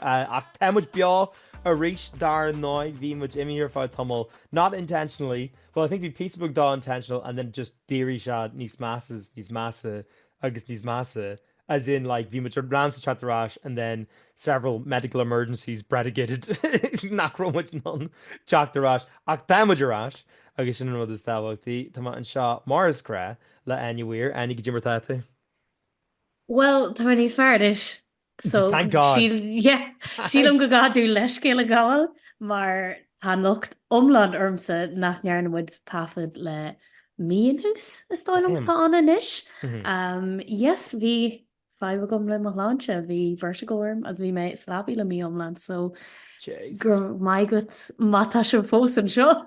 Ach tá muid beo arís dar ndóigh. Bhí muid imithe ar feadh tamaill, not intentionally, well I think bhí píosa beag de intentional and then just d'éirigh sé níos measa is níos measa agus níos measa as in like bhí muid in ann teacht ar ais and then several medical emergencies bredigated nach raibh muid in ann teacht ar ais. Ach tá muid ar ais agus sin an rud is tábhachtaí. Tá mé anseo mar is gnách le Áine Weir. Áine, goidé mar atá tú? Bhuel, tá mé níos fearr anois. So, Thank God. síl- yeah, sílim go gcaithfidh leithscéal a ghabháil mar tá an locht iomlán ormsa nach ndearna muid taifead le mí anuas, is dóigh liom, Damn. atá ann anois. Mhm. Um, yes, bhí fadhb agam le mo shláinte, bhí vertigo orm agus bhí mé sa leabaidh le mí iomlán, so go Jesus. raibh maith agat má tá sibh fós anseo.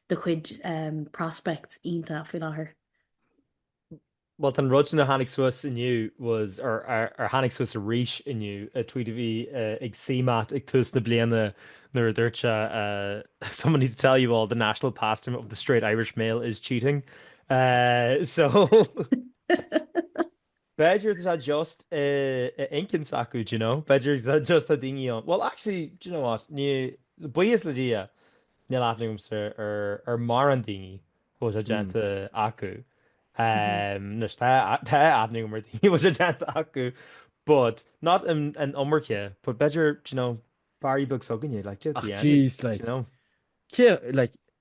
do chuid prospects iontach faoi láthair? Bhuel, an rud sin a tháinig suas inniu was ar, ar, ar tháinig suas arís inniu a tweet a bhí ag CMAT ag tús na bliana nuair a dúirt sí uh, someone needs to tell you all the national pastime of the straight Irish male is cheating. Uh, so B'fhéidir tá just instincts acu do you know, b'fhéidir just tá daoine ann, well actually do you know what, ní, buíochas le Dia níl aithne agamsa ar ar mórán daoine a bhfuil sé déanta acu, anois tá tá aithne agam ar daoine a bhfuil sé déanta acu but not an an iomarca but b'fhéidir do you know baile beag s'againne like do you know at the end, do you know. Cé, like,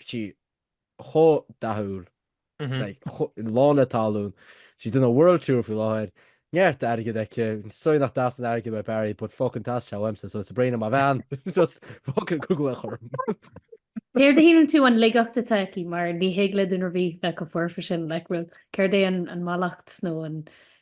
sí chomh dathúil, like, lán le tallann. Tá sí ag déanamh world tour faoi láthair. Neart airgid aici. Sorry nach dteastaíonn airgead ó Barry but fucking teastaíonn sé uaimse so is breá liom an bhean. Just fucking gabh i leith chugam. Céard a shíleann tú an laigeacht atá aici mar ní thig le duine ar bith bheith chomh foirfe sin, like, bhfuil, céard é an mallacht nó an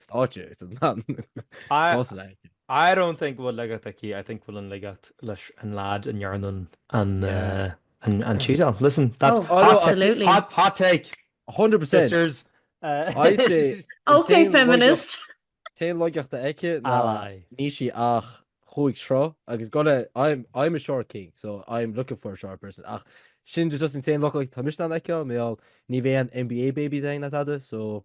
stáitse is an tan. I, Cás le. I don't think go bhfuil laigeacht aici, I think go bhfuil an laigeacht leis an lad a ndearna an, Yeah. uh, an, an cheese off. Listen, that's Oh, hot, ta- absolutely. hot, hot take, 100%. sisters. Uh, I'd say- Ok, feminist. An t-aon laigeacht atá aici ná Aye. níl sí ach cúig troigh agus go leith I'm, I'm a short king, so I'm looking for a short person. Ach sin just an t-aon laigeacht a fheicimse aici mar ní bheadh aon NBA babies againn ná tada, so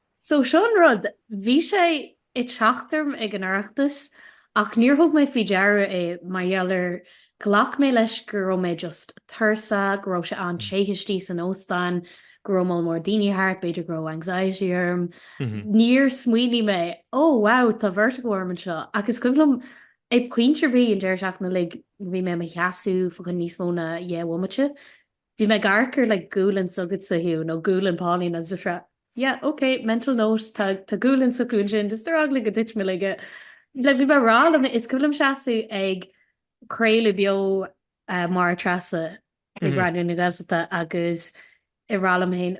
So seo an rud, bhí sé ag teacht orm ag an Oireachtas ach níor thug mé faoi deara é mar gheall ar ghlac mé leis go raibh mé just tuirseach, go raibh sé an-te istigh san óstán, go raibh moll mór daoine thart, b'fhéidir go raibh anxiety orm. Níor smaoinigh mé, ó wow tá vertigo orm anseo agus is cuimhin liom ag pointe ar bith an deireadh seachtaine uilig bhí mé i mo sheasamh fá choinne níos mó ná deich mbomaite, Bhí mé ag amharc ar like gualainn s'agatsa Hugh, nó gualainn Pauline, agus just ag rá, yeah, ok, mental note, tá, tá gualainn s'acu ansin, just ar eagla go dtuitim i laige, like bhí mé ag rá liom, is cuimhin liom seasamh ag craoladh beo Máire Treasa ag Raidió na Gaeltachta agus ag rá liom féin,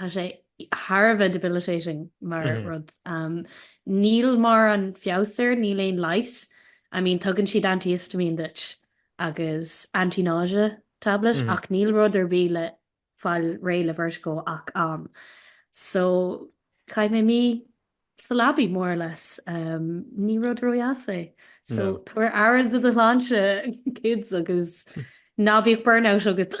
Tá sé thar a bheith debilitating mar rud. Níl mórán feabhas air, níl aon leigheas. I mean, tugann siad antihistamine duit agus anti-nausea tablet ach níl rud ar bith le fáil réidh le vertigo ach am. So, chaith mé mí sa leabaidh more or less. Ní rud ródheas é. So, tabhair aire do do shláinte kids agus ná bíodh burnout agat.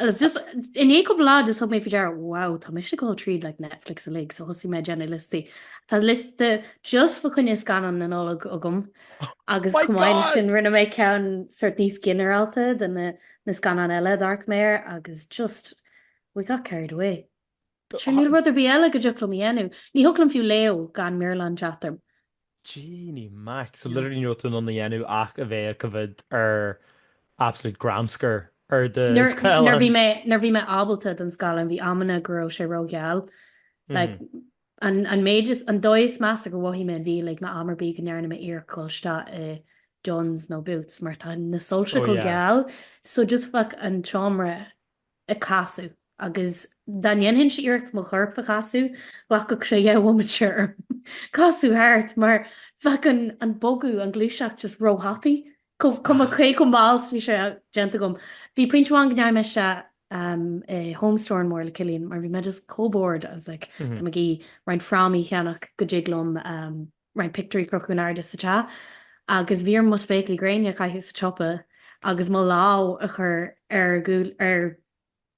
I was just, i ndiaidh cúpla lá just thug mé faoi deara, wow, tá mise ag dul tríd like Netflix uilig, so thosaigh mé ag déanamh liostaí. Tá liosta just fá choinne scannán na Nollag agam agus oh chomh maith le sin rinne mé ceann sort níos ginearálta de na, na scannán eile d'amharc mé air agus just we got carried away. Sure níl rud ar bith eile go dtiocfadh liom a dhéanamh. Ní thiocfadh liom fiú léamh gan mearbhlán teacht orm. Jeannie Mac, so literally ní raibh tú in ann a dhéanamh ach a bheith ag coimhéad ar absolute gramscar ar do scáileán. Nuair bhí mé ábalta don scáileán bhí amanna go raibh sé rógheal. Like an méid is, an dóigh is measa gur mhothaigh mé an mhí uilig ná am ar bith go ndearna mé iarracht dhul isteach i Dunnes nó Boots mar tá na soilse chomh geal so just bheadh an tseomra ag casadh agus dá ndéanfainnse iarracht mo chorp a chasadh, ghlacfadh sé dhá bhomaite orm casadh thart mar bheadh an bogadh, an ghluaiseacht just ró-thapaidh. Cuma cé chomh mall 's bhí sé déanta agam. Bhí pointe amháin go ndeachaigh mé isteach i Home Store and More le Cillian mar bhí mé just chomh bored, I was like tá mé ag iarraidh roinnt frámaí a cheannach go dtig liom roinnt pictiúirí a chrochadh in airde sa teach agus bhí orm mo spéaclaí gréine a chaitheamh sa tsiopa agus mo lámh a chur ar ar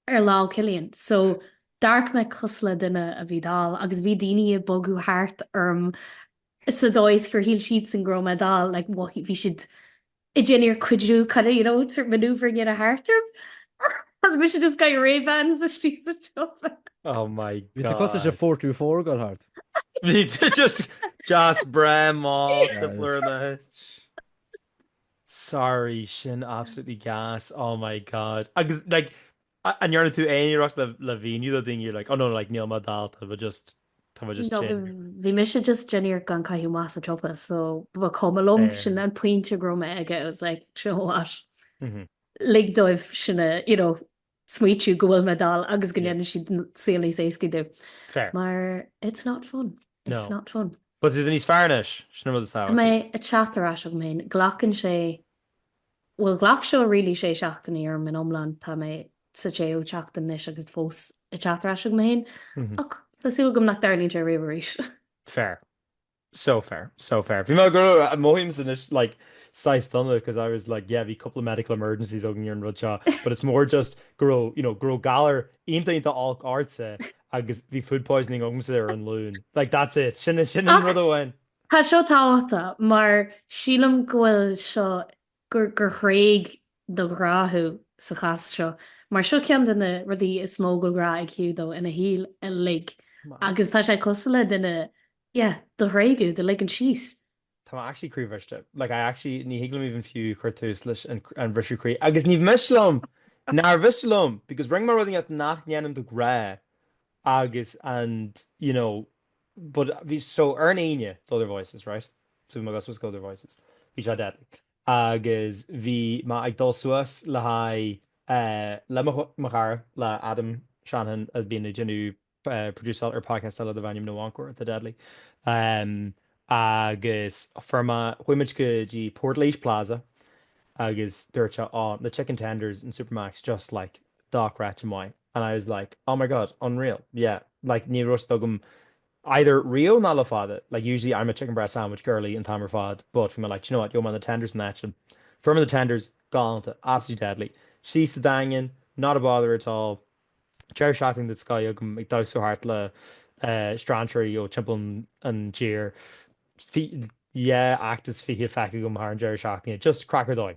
ar lámh Chillian so d'amharc mé cosúil le duine a bhí dall agus bhí daoine ag bogadh thart orm sa dóigh is gur shíl siadsan go raibh mé dall like bhí siad ag déanamh iarracht cuidiú kind of you know sort of manoeuvring a dhéanamh thart orm agus mise just ag caitheamh Ray-Bans istigh sa tsiopa. Oh my god. Bhí tú costais a four to four gal hard. Bhí tú just jas breith mall de blur na hit. Sorry sin absolutely gas oh my god agus like An ndearna tú aon iarracht le mhíniú do dhaoine like oh no like níl mé dall tá mé just tá mé just tinn. No bhí mise just ag déanamh iarracht gan caitheamh amach sa tsiopa so ba chuma liom sin an pointe go raibh mé aige I was like do you know what lig dóibh sin a you know smaoitiú go bhfuil mé dall agus go ndéanann siad saol níos éascaí dom. Fair. Mar it's not fun. No. It's not fun. But tá tú níos fearr anois, sin an rud is tábhachtaí. Tá mé ag teacht ar ais agam féin, glacann sé Bhuel ghlac seo really sé seachtainí orm in iomlán, tá mé sa tséú tseachtain anois agus fós ag teacht ar ais chugam féin, ach tá súil agam nach dtarlaíonn sé riamh arís. Fair. So fair. So fair. Bhí mé ag rá mothaímse anois like saghas dona cos I was like yeah bhí cúpla medical emergencies agam ar an rud seo but it's more just go raibh you know go raibh galar iontach iontach olc ortsa agus bhí food poisoning agamsa ar an Luan. Like that's it. Sin sin an rud amháin. Tá seo tábhachtach mar sílim go bhfuil seo, gur thréig do ghrá thú sa chás seo mar seo ceann de na rudaí is mó go bhfuil grá ag Hugh dó ina shaol uilig agus tá sé cosúil le duine yeah do thréigeadh, do ligean síos. Tá mé actually croíbhriste. Like I actually, ní thig liom even fiú cur tús leis an bhriseadh croí agus ní miste liom níor mhiste liom because rinne mé rudaí nach ndéanaim de ghnáth agus and you know But bhí so ar an Aoine Other Voices, right? So bhí mé ag dul síos go Other Voices. Bhí sé deadly. Agus bhí mé ag dul suas le haghaidh eh le mo mo chara le Adam Shanahan a bhíonn ag déanamh eh producáil ar podcast eile darbh ainm No Encore atá deadly. Em agus fuair mé chuaigh muid go dtí Portlaoise Plaza agus dúirt sé, 'Á, na chicken tenders in Supermac's just like dochreidte maith. And I was like, oh my god, unreal, yeah, like ní raibh siad agam either riamh nó le fada, like usually I'm a chicken breast sandwich girlie an t-am ar fad, but bhí mé like, do you know what, throw me on the tenders and that sin. Throw me on the tenders, galánta, absolutely deadly. Síos sa Daingean, not a bother at all, deireadh seachtaine den scoth agam ag damhsa thart le strainséirí ó timpeall an tír, yeah, act is fiche feicthe agam thar an deireadh seachtaine, just craic ar dóigh.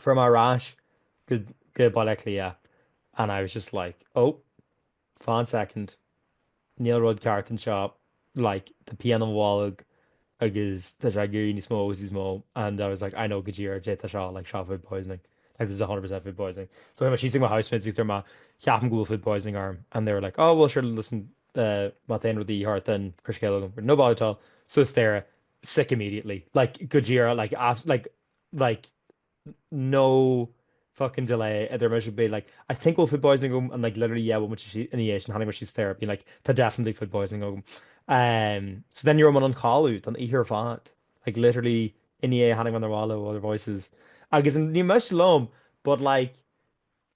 Fuair mé ar ais go go Baile Átha Cliath and I was just like, oh, fán soicind, níl rud ceart anseo, like tá pian i mo bholg agus tá sé ag éirí níos mó agus níos mó and I was like, I know go díreach caidé tá seo, like seo food poisoning, like this is a hundred percent food poisoning. So anyway, síos chuig mo housemates agus deir mé, ceapaim go bhfuil food poisoning orm and they were like, oh well sure listen, eh, má tá aon rud de dhíth ort then cuir scéal chugam, no bother at all, suas staighre, sick immediately, like go díreach like abs- like, like no fucking delay idir mise being like I think go bhfuil food poisoning agam and like literally yeah bhfuil muid sí ina dhiaidh sin tháinig mé síos staighre being like tá definitely food poisoning agam um so then ní raibh mé in ann codladh don oíche ar fad like literally ina dhiaidh tháinig mé chun an bhaile ó Other Voices agus níl miste liom but like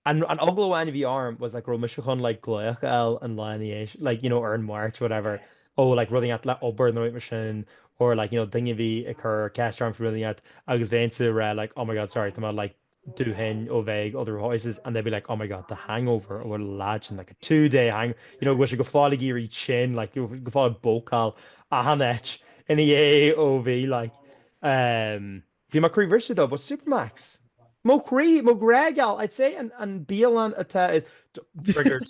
An an eagla amháin a bhí orm was like raibh mise chun like glaoch a fháil an lá ina dhiaidh like you know ar an Mháirt whatever ó like rud inteacht le obair nó rud mar sin or like you know duine a bhí ag cur ceist orm faoi rud inteacht agus bhéinnse ag rá like oh my god sorry tá mé like dúthain ó bheith ag Other Voices and they'd be like oh my god the hangover ó bhfuil leid in like a two day hang you know bhfuil sé go fóill ag éirí tinn like go fóill ag bócáil achan áit ina dhiaidh ó bhí like um, Bhí mo chroí briste though, but Supermac's. Mo chroí, mo ghrá geal, I'd say an bialann atá i gceist. Triggered.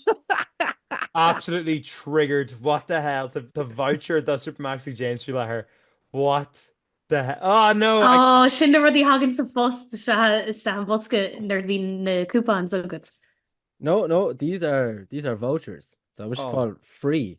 Absolutely triggered. What the hell? Tá tá voucher do Supermac's ag James faoi láthair. What the he-, oh no! Ó, sin na rudaí a thagann sa phost isteach i mbosca nuair a bhíonn na coupons agat. No, no, these are, these are vouchers. So I wish Oh. call free.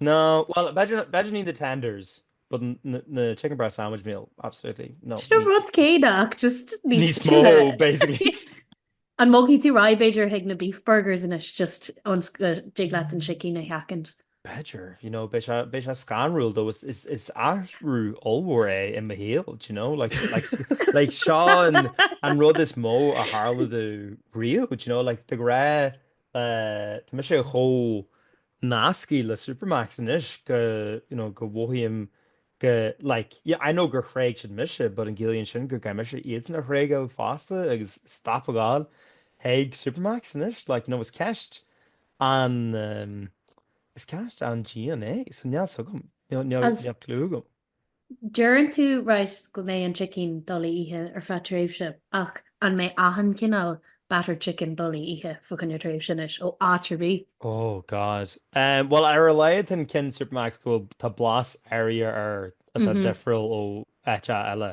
No, bhuel, better better need the tenders, but the chicken breast sandwich meal, absolutely, no, Sin an ní rud céanna ach just níos níos mó, tine. basically. An mbogfaidh tú right b'fhéidir chuig na beef burgers anois just ionas go dtig leat an sicín a sheachaint? B'fhéidir, you know, beidh sé beidh sé scanrúil though, is is is athrú ollmhór é i mo shaol, do you know, like like like seo an an rud is mó a tharla dom riamh, do you know, like de go raibh Tá mise chomh nasctha le Supermac's anois go, you know, go mhothaím go, like, yeah, I know gur thréig siad mise but an gciallaíonn sin go gcaithfidh mise iadsan a thréigeadh fosta agus stop a ghabháil chuig Supermac's anois? Like, you know, is ceist an, is ceist an-dian é, so níl 's agam, níl, níl, níl clú agam. Deireann tú right go mbeidh an chicken doiligh a ithe ar feadh tréimhse ach an mbeidh achan chineál battered chicken doiligh a ithe fá choinne tréimhse anois ó áit ar bith? Oh God. Em bhuel ar a laghad an ceann Supermac's go bhfuil tá blas air air atá difriúil ó áit eile.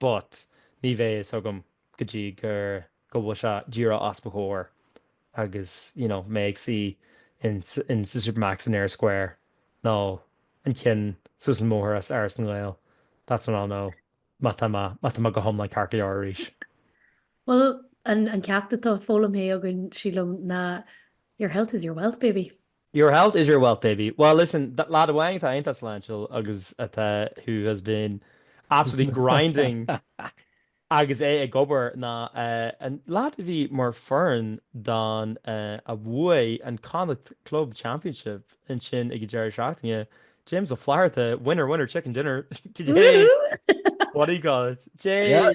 But, ní bheidh a fhios agam go dtí gur go bhfuil sé díreach os mo chomhair agus, you know, mé ag suí in in sa Supermac's in Eyre Square nó an ceann suas an mbóthar as Áras na nGael, that's when I'll know má tá mé má tá mé go hiomlán ceart go leor arís. Bhuel, an an ceacht atá foghlaimthe againn, sílim, ná Your health is your wealth, baby. Your health is your wealth baby. Well listen, lad amháin atá iontach sláintiúil agus atá who has been absolutely grinding agus é ag obair ná an lad a bhí mar chuid den fhoireann a bhuaigh an Connacht Club Championship ansin ag an deireadh seachtaine, James Ó Flatharta, winner winner chicken dinner, Woo! what do you call it? J.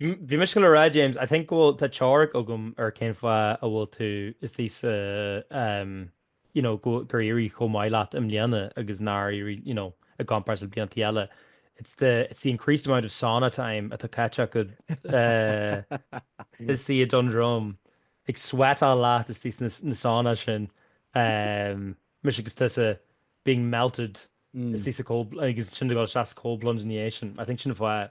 Bhí mise ag goil a rá James, I think go bhfuil, tá teoiric agam ar cén fáth a bhfuil tú istigh sa, um, you know, go, gur éirigh chomh maith leat i mbliana agus nár éirigh, you know, i gcomparáid le blianta eile. It's the, it's the increased amount of sauna time atá caite acu uh, istigh i nDún Droma. Ag sweatáil leat istigh sna, na sauna sin. Um, mise agus tusa being melted Mm. Istigh sa cold, agus ansin go deas cold plunge in the ocean. I think sin fáth,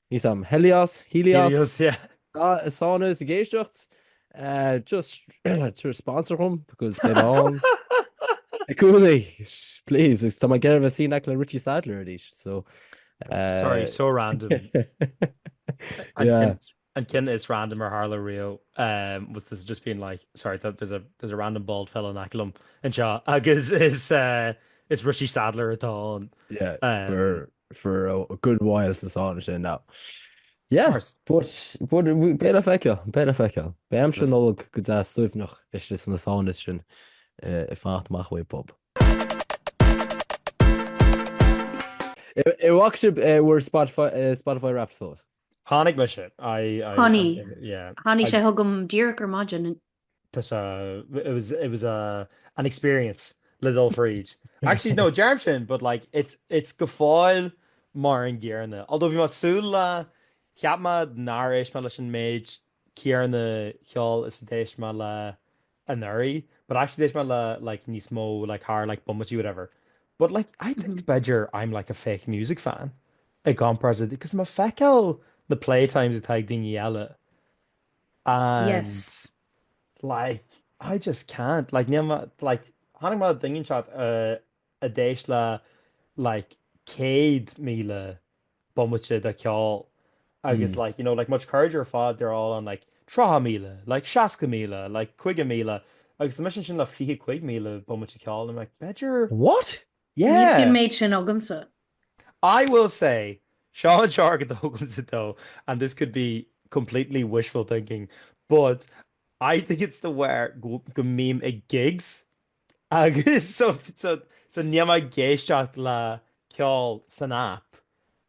Níos am. Helios, Helios, yeah. Is ann is ag éisteacht. Just tabhair sponsor dhom because get on. Be cool-í, please. Is tá mé ag iarraidh a bheith CNAC le Richie Sadlier arís, so. Sorry, so random. An cinn is random ar tharla riamh was this just being like, sorry, there's a, there's a random bald fella in Acklam, and seo, agus is, uh, is Richie Sadlier atá on. Yeah, uh, for for a good while sa sauna sin now. Yeah, but, but beidh le feiceáil, beidh le feiceáil. Beidh aimsir Nollag go deas suaimhneach istigh sna saunas sin ag fanacht amach uaidh bob. An bhfaca sibh eh, bhur Spotify, eh, Spotify Wrapped, I suppose. Tháinig mise, I, I, Tháinig. yeah. Tháinig sé chugam díreach ar maidin. Tá sé it was it was a an experience le dul fríd. Actually no deirim sin but like it's it's go fóill mar an gcéarna. Although bhí mé ag súil le cheap mé nár éist mé leis an méid céarna ceoil is a d'éist mé le anuraidh but actually d'éist mé le like níos mó like thar like bomaití whatever. But like I think mm. b'fhéidir I'm like a fake music fan i gcomparáid because mé ag feiceáil na playtimes atá ag daoine eile and Yes. like I just can't like níl mé like chonaic mé duine inteacht a d'éist le like céad míle bomaite de ceol agus like you know like mo chuid cairde ar fad they're all on like tríocha míle like seasca míle like caoga míle agus tá mise ansin le fiche cúig míle bomaite ceol and I'm like b'fhéidir What? Níl an méid sin agamsa. I will say, seo an argóint agamsa though, and this could be completely wishful thinking, but I think it's de bharr go mbím ag gigs agus so, so, so níl mé ag éisteacht le ceol san app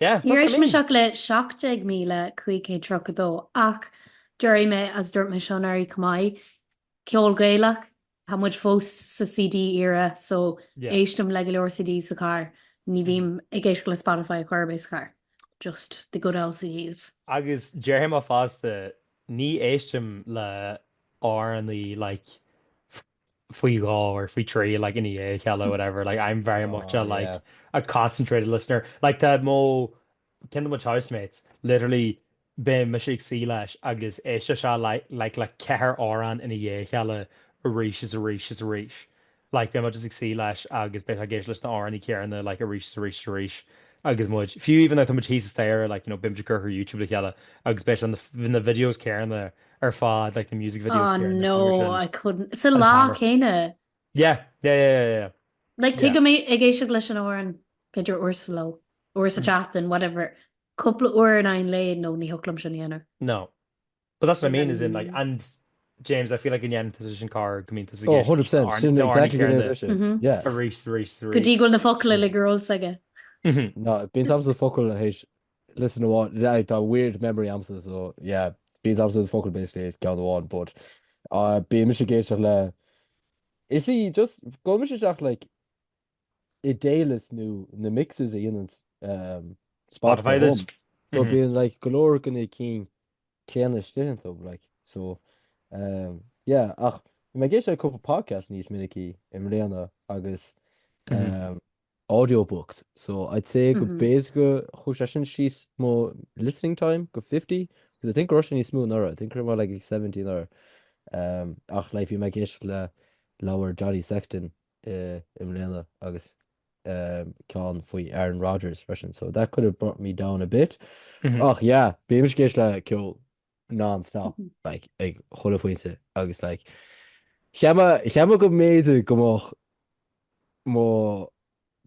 Níor éist mise ach le 17532 ach déarfaidh mé is dúirt mé seo anuraidh chomh maith. Ceol Gaelach, tá muid fós sa CD era so éistim le go leor CD sa charr, ní bhím ag éisteacht le Spotify chor ar bith sa charr, just the good old CDs. Agus déarfaidh mé fosta ní éistim le amhráin like faoi dhó or faoi thrí like i ndiaidh a chéile or whatever like I'm very much a like yeah. a concentrated listener like tá mo ceann de mo chuid housemates literally bímse ag suí leis agus éisteann sé like like le ceithre amhrán i ndiaidh a chéile arís is arís is arís like bím just ag suí leis agus bíonn ag éisteacht leis na hamhráin céarna like arís is arís is arís agus muid fiú even though tá muid thíos staighre like you know bímid ag cur air YouTube le chéile agus bíonn na videos céarna ar fád like, na music videos oh, no, I couldn't sa lá céine yeah yeah yeah yeah like tu mé ag éisi leis an or an picture or slow or sa mm. chatan whatever couple or an ein le no ni holum sinna no but that's what I mean is in like mm. and James I feel like in position car go mean oh, 100 go dí go na fo le girls aige no bin sam sa fo a héis listen amháin yeah I've got weird memory agamsa so yeah bíonn a fhios agamsa na focail basically is ceann amháin but uh bíonn mise ag éisteacht le I just gabhaimse isteach like i daylist nó na mixes a dhéanann um, Spotify domh so mm-hmm. bíonn like go leor de na cinn céanna istigh ann so like so um, yeah ach mé ag éisteacht le cúpla podcast níos minice i mbliana agus mm-hmm. um, Audiobooks so I'd say gur basically chuaigh sé sin síos mo listening time go fifty 'cause I think go raibh sé níos mó anuraidh I think go raibh mé like ag 70 anuraidh um ach like bhí mé ag éisteacht le leabhar Johnny Sexton i mbliana agus um ceann faoi Aaron Rodgers freisin so that could have brought me down a bit ach yeah bímse ag éisteacht le ceol non-stop like, ag chuile phointe agus like, cheap mé go mb'fhéidir go mbeadh mo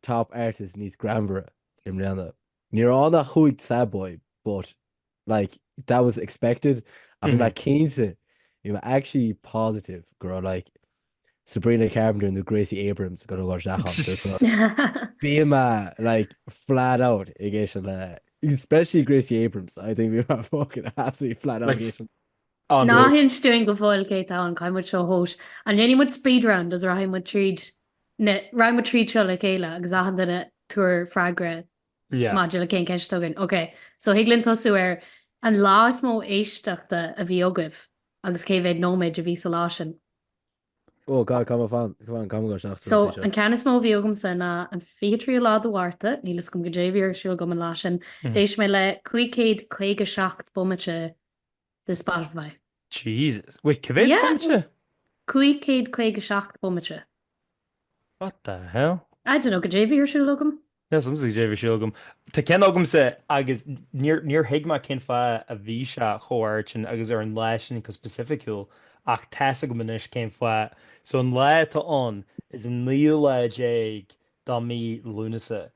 top artists níos greannmhaire i mbliana. Ní raibh ann ach cúig sad boy but like, that was expected ach bhí mé cinnte, bhí mé actually positive go raibh like, Sabrina Carpenter nó Gracie Abrams i gcontúirt láimh seacháin ar fad. Bíonn mé like flat out ag éisteacht le especially Gracie Abrams I think bhí mé fucking absolutely flat out ag Like- éisteacht. Ná raibh? Ná hinis dúinn go fóill cé tá ann, caithfidh muid seo a thomhas. An ndéanfaidh muid speed round is rachaidh muid tríd na, rachaidh muid tríd seo le chéile agus achan duine tabhair freagra Yeah. maidir le cén ceist a thugann. Ok, so thig linn tosú ar an lá is mó éisteachta a bhí agaibh agus cé mhéad nóiméad a bhí sa lá sin. Oh god, cá mbíonn, cá mbíonn go raibh seachtain So, an tí seo. an ceann is mó a bhí agamsa ná an 23ú lá de Mhárta, níl fhios agam goidé a bhí ar siúl agam an lá sin, Mhm. d'éist mé le 557 bomaite de Spotify. Jesus. Wait, cé mhéad Yeah. bomaite? 557 bomaite. What the hell? I don't know, goidé a bhí ar siúl agam. Níl fhios a'msa cé a bhí ar siúl agam. Tá ceann agamsa agus níor, níor thuig mé cén fáth a bhí sé chomh ard sin agus ar an lá sin go specificiúil ach tá's agam anois cén fáth. So an lá atá ann is an naoú lá déag de mhí Lúnasa.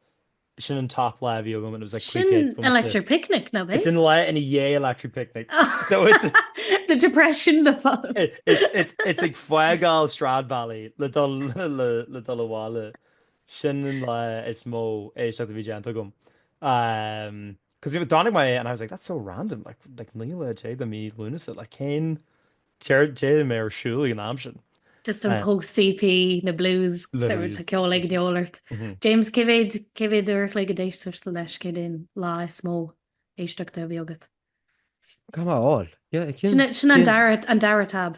Sin an top lá a bhí agam and it was like Sin pre-kids. when I was there. Electric Picnic nach It's raibh? an lá ina dhiaidh Electric Picnic. No, it's, The depression na fá. it's, it's, it's, it's ag fágáil Stradbally le dul le, le dul abhaile. Sin an lá is mó éisteachta a bhí déanta agam. Cos you know chonaic mé é and I was like that's so random like like 19 lá de mhí Lúnasa like cén céard d'fhéadfadh mé ar siúl ag an am sin? Just an post EP, na blues, tá ceol ag an gceol ort. James cé mhéad cé mhéad uair a chloig a d'éist tusa leis cad é an lá is mó éisteachta a bhí agat? Cá bhfuil sé le fáil? Sin an dara an dara tab.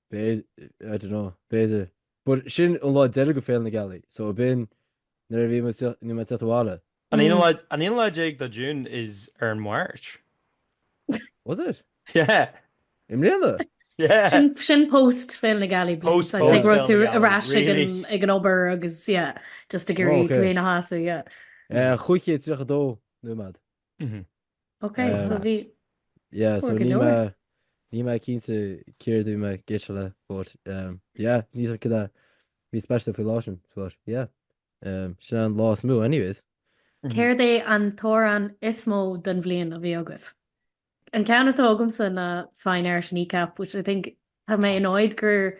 B'fhéidir, I don't know, b'fhéidir. But sin an lá deiridh de Féile na Gealaí, so a b'in nuair a bhí muid, bhí mé ag teacht abhaile. An aonú lá, an aonú lá déag de June is ar an Mháirt. Was it? Yeah. I mbliana? Yeah. Sin, sin post Féile na Gealaí blues. Post, post Féile na Gealaí. So, an raibh tú ar ais ag an, ag an obair agus, yeah, just ag iarraidh oh, okay. tú féin a shásamh, yeah. Uh, 532 nóiméad. Mhm. Ok so bhí Yeah, so níl mé cinnte céard bhí mé goite le, but um, yeah, níl fhios agam céard a bhí speisialta faoin lá sin, but yeah. Um, sin an lá is mó anyways. Céard é an t-amhrán is mó den bhliain a bhí agaibh? An ceann atá agamsa ná Fine Art Kneecap which I think tá mé annoyed gur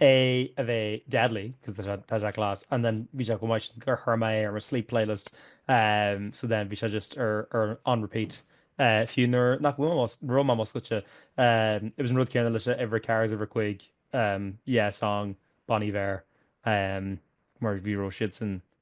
é a bheith deadly cos tá sé class and then bhí sé chomh maith sin gur chuir mé é ar mo sleep playlist ehm so then bhí sé just ar on repeat eh fiú nuair nach raibh mé múscailte ehm it was an rud céanna le uimhir ceathair is uimhir cúig ehm yeah song Bon Iver ehm mar bhí siadsan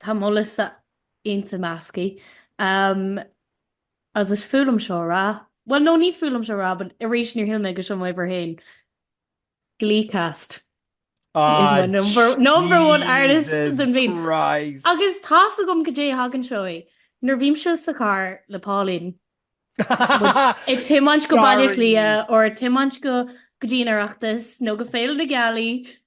Tá mo liosta iontach measctha. Agus is fuath liom seo a rá. Bhuel no ní fuath liom seo a rá but arís níor shíl mé go seomóidh bhur féin. Glee cast is number one artist den bhliain. Jesus Christ. Agus tá's agam caidé a thagann seo é. Nuair bhímse sa charr le Pauline ag tiomáint go Baile Átha Cliath or ag tiomáint go dtí an Oireachtas nó go Féile na Gealaí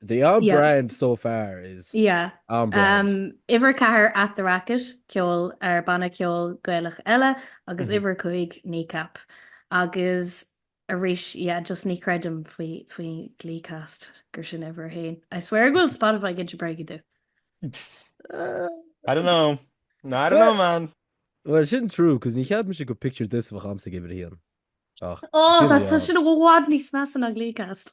They are Yeah. brand so far is Yeah. on brand. Um, uimhir 4 At the Racket, ceol ar banna ceoil Gaelach eile, agus Mhm. uimhir 5 Kneecap. Agus arís, yeah, just ní chreidim faoi, faoi Gleecast gur sin uimhir a haon. I swear go bhfuil Spotify ag inse bréige domh. I don't know. I don't know, man. Well, sin true, cos níor cheap mise go picture this a bheadh agamsa ag uimhir a haon. Ach, Oh, Sin that's bhí such an bhád níos measa ná Gleecast.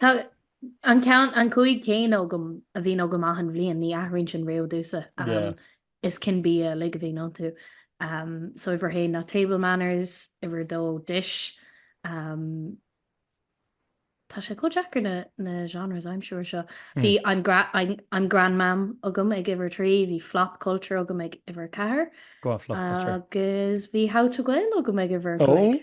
Tá an ceann, an cúig céanna agam a bhíonn agam achan bhliain, ní athraíonn sin riamh domhsa. Yeah. Is cinn bia uilig a bhíonn iontu. So uimhir a haon ná table manners, uimhir a dó dish. Tá sé chomh deacair na genres I'm sure seo. Bhí I'm I'm grandmam agam ag uimhir a trí, bhí flop culture agam ag uimhir a ceathair. Go on, flop culture. Agus bhí how to Gael agam ag uimhir a cúig.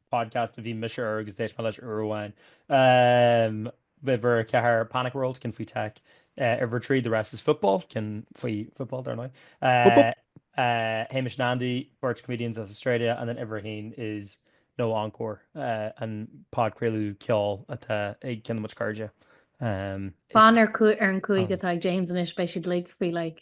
podcast a bhí mise ar agus d'éist mé leis uair amháin. Um, uimhir a ceathair Panic World ceann faoi tech. Uh, uimhir trí The Rest is Football ceann faoi football dar ndóigh. Uh, uh, Hamish and Andy, beirt comedians as Australia, and then uimhir a haon is No Encore, uh, an podchraoladh ceoil atá ag ceann de mo chairde. Um, Fan ar, cu- ar an cúig atá ag James anois, beidh siad uilig faoi like,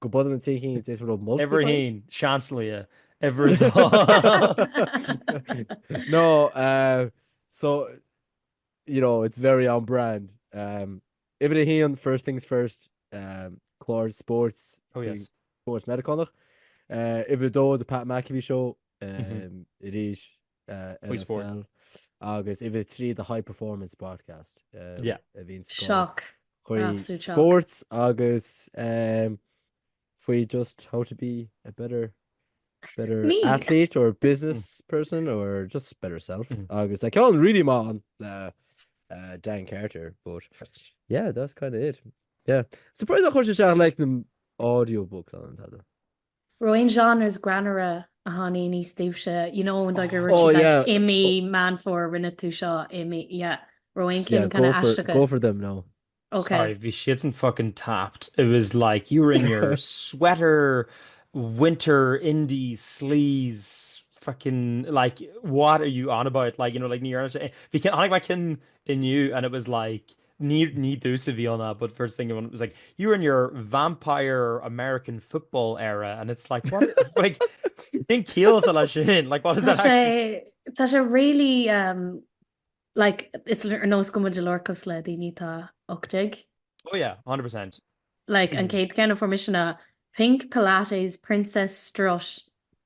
Go bun an tí hín is rud mult. Uimhir hín, seans lia. Uimhir dó. No, uh, so, you know, it's very on brand. Um, uimhir a hín, first things first, um, clár sports. Oh, yes. Sports Americánach. Uh, uimhir dó, the Pat McAfee show. Um, mm -hmm. It is Chuig spórt. NFL agus uimhir a trí do High Performance Podcast Yeah. a bhíonn sa gclár. Shock. Chuig Absolute shock. sports agus um, faoi just how to be a better better Me. athlete or business person or just better self. Mm. Agus like all really man le uh, Dan Carter, but yeah, that's kind of it. Yeah. Surprised a chuir sé seach like na audiobooks an tada. An raibh aon genres greannmhara a tháinigh aníos daoibhse, you know an dóigh go raibh siad like i mí Mean Fómhair rinne tú seo i mí yeah raibh aon cinn kind of aisteacha? Go for them no. Okay. Sorry, bhí siadsan fucking tapped. It was like you were in your sweater winter indie sleaze fucking like what are you on about like you know like ní dhearna sé. Bhí cinn chonaic mé cinn inniu and it was like ní, ní dtús a bhí ann a but first thing was like you were in your vampire American football era and it's like what like think kill lei sin like what is that actually? Tá sé really um, like is ar nó go muid lorcas le daoine tá 8 Oh yeah, 100%. Like mm. an céad gan formisionna pink Pilates Princess Strosh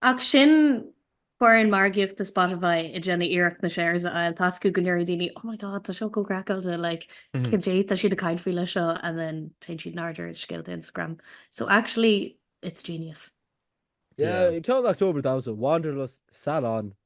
Ach sin foireann margaíocht do Spotify ag déanamh iarracht na shares a fháil. Toisc go ndéarfaidh daoine oh my god tá seo chomh craiceáilte like caidé tá siad ag caint fá leis seo and then téann siad in airde ar scéalta Instagram. So actually it's genius. Yeah, ceann October damhsa, Wanderlust, Salon,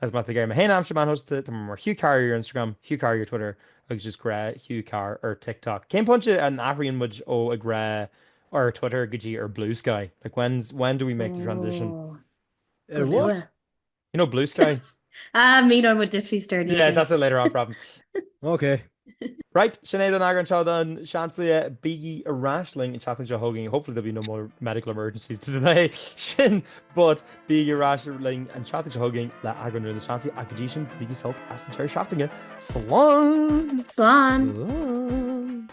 As maith aige mé féin aimsir maith anuas tá mé mar Hugh Carr ar Instagram, Hugh Carr ar Twitter agus is a grá Hugh Carr ar TikTok. Cén pointe an athraíonn muid ó a grá ar Twitter go dtí ar Blue Sky? Like when's when do we make the transition? Oh. Ar what? You know Blue Sky? Ah, mí mu disí stir. Yeah, that's a later on problem. Okay. Right, sin é don eagrán seo den Seansálaí. Bígí ar ais linn an tseachtain seo chugainn. Hopefully there'll be no more medical emergencies go dtí sin, but bígí ar ais linn an tseachtain seo chugainn le eagrán nua den Seansálaí ach go dtí sin bainigí sult as an deireadh seachtaine. Slán! Slán!